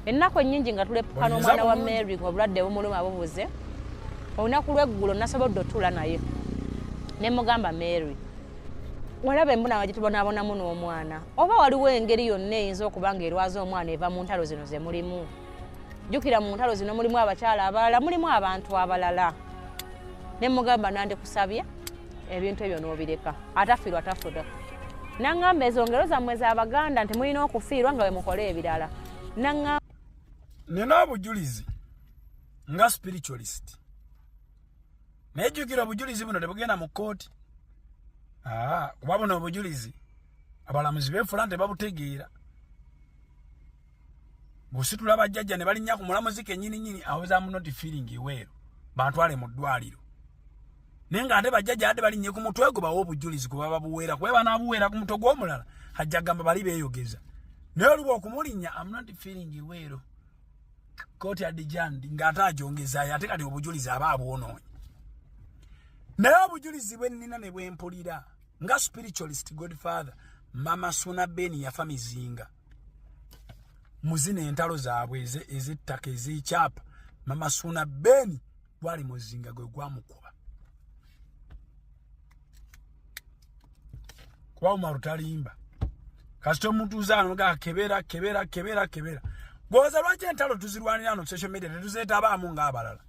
ennaku ennyingi nga tuleppuka n'omwana wa mary ng'obulwadde bumuluma bubuze olunaku lweggulo nasobodde otuula naye ne mugamba mary walaba embonano gyetubonabonamu n'omwana oba waliwo engeri yonna eyinza okuba nga erwaza omwana eva mu ntalo zino ze mulimu jjukira mu ntalo zino mulimu abakyala abalala mulimu abantu abalala ne mugamba nandikusabye ebintu ebyo nobireka atafiirwa tafuda nangamba ezo ngero zammwe zabaganda nti mulina okufiirwa nga wemukola ebirala nangamba nina obujulizi nga spiritualist naye jjukira obujulizi buno tebugenda mu kkooti kuba buno obujulizi abalamuzi beefula nti babutegeera ng'ositula bajjajja ne balinnya ku mulamuzi kennyini nnyini awozaamu noti feeling iweero bantwale mu ddwaliro naye nga ate bajjajja ate balinnye ku mutwe gwe bawa obujulizi gwe baba buweera kuba banaabuweera ku mutwe gw'omulala ajja gamba bali beeyogeza naye oluba okumulinnya am not feeling iweero kooti adijandi ng'ate agyongezaayo ate kati obujulizi aba abwonoonyi naye obujulizi bwe nnina ne bwe mpulira nga spiritualist godfather mama suna beni yafa mizinga muzina entalo zaabwe ezettaka ezekyapa mama suuna beni gwali muzinga gwe gwamukuba kuba umaru talimba kasita omuntu uzanoga kebera kebera kebera kebera gwoza lwaki entalo tuzirwanira no social media tetuzetabaamu ngaabalala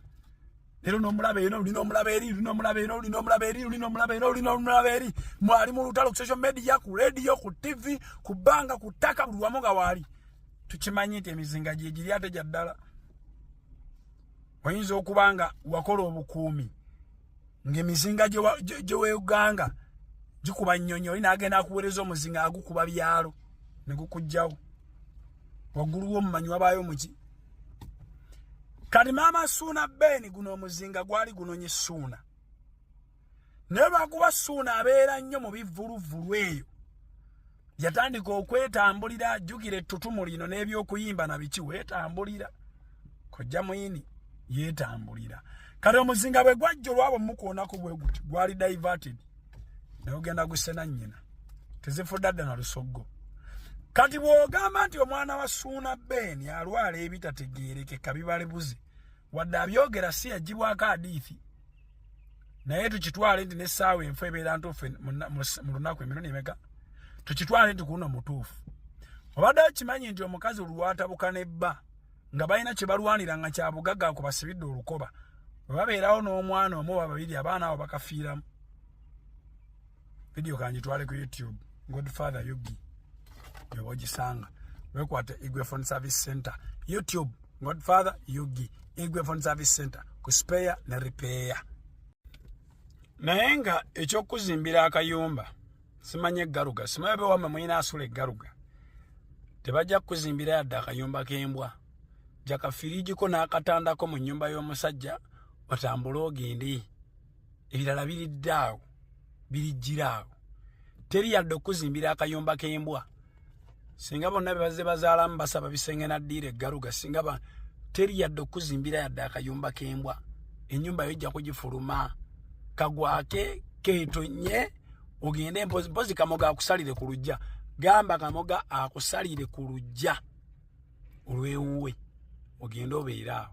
Lero no mulabe eno lino mulabe eri lino mulabe eno lino mulabe eri lino mulabe eno lino mulabe eri mwali mu lutalo ku social media ku radio ku TV ku banga ku taka buli wamu nga waali tukimanyi nti emizinga gye giri ate gya ddala oyinza okuba nga wakola obukuumi ng'emizinga gye weuganga gikuba nnyonyi oli naagenda akuweereza omuzinga agukuba byalo ne gukugjawo waggulu w'omumanyi wabaayo muki kati maama suuna beeni guno omuzinga gwali gunonye suuna naye lwakuba suuna abeera nnyo mu bivuluvulu eyo yatandika okwetambulira ajjukira ettutumu lino n'ebyokuyimba na biki weetambulira kojja muyini yeetambulira kati omuzinga bwe gwajja olwabo mukuonako bwe guti gwali diverted naye ogenda gusena nyina tezifudde adda na lusoggo kati bw'ogamba nti omwana wa suuna beeni alwala ebitategeerekeka bibalebuze wadde abyogera si yagibwako adiithi naye tukitwale nti n'essaawa enfu ebeera ntuufu mu lunaku emirundi emeka tukitwale nti kuno mutuufu obadde okimanyi nti omukazi olwatabuka ne bba nga balina kye balwanira nga kya bugagga ku basibidde olukoba bwe babeerawo n'omwana omu oba babiri abaana abo bakafiiramu vidiyo kanjitwale ku youtube godfather yugi yoba ogisanga wekwata igwe phone service center youtube godfather yugi igwe phone service center ku speya ne ripeya naye nga ekyokuzimbira akayumba simanyi eggaluga simanyi obe wamwe muyina asula eggaluga tebajja kukuzimbira yadde akayumba k'embwa jakafiriigiko n'akatandako mu nnyumba y'omusajja otambule ogende ebirala biridde awo birijjira awo teri yadde okukuzimbira akayumba k'embwa singa bonna bebazze bazaalamu basaba bisenge naddiira eggaluga singa ba teri yadde okuzimbira yadde akayumba k'embwa ennyumba yo ejja kugifuluma kagwake ketonye ogende mpozi mpozi kamoga akusalire ku lujja gamba kamoga akusalire ku lujja olwewuwe ogende obeere awo